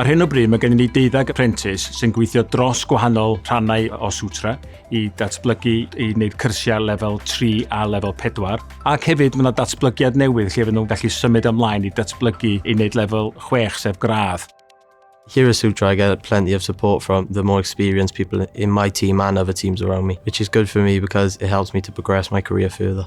Ar hyn o bryd mae gennym ni deuddeg apprentice sy'n gweithio dros gwahanol rhannau o Sutra i datblygu i wneud cyrsiau lefel 3 a lefel 4 ac hefyd mae yna datblygiad newydd lle fydden nhw'n gallu symud ymlaen i datblygu i wneud lefel 6 sef gradd. Here at Sutra I get plenty of support from the more experienced people in my team and other teams around me, which is good for me because it helps me to progress my career further.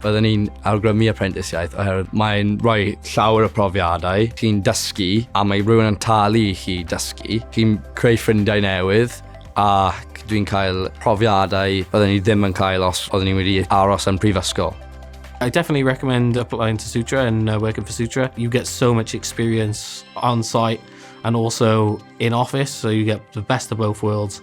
Byddwn ni'n awgrymu aprentisiaeth oherwydd mae'n rhoi llawer o profiadau, chi'n dysgu a mae rhywun yn talu i chi dysgu, chi'n creu ffrindiau newydd ac dwi'n cael profiadau byddwn ni ddim yn cael os oeddwn ni wedi aros yn prifysgol. I definitely recommend applying to Sutra and uh, working for Sutra. You get so much experience on site and also in office, so you get the best of both worlds.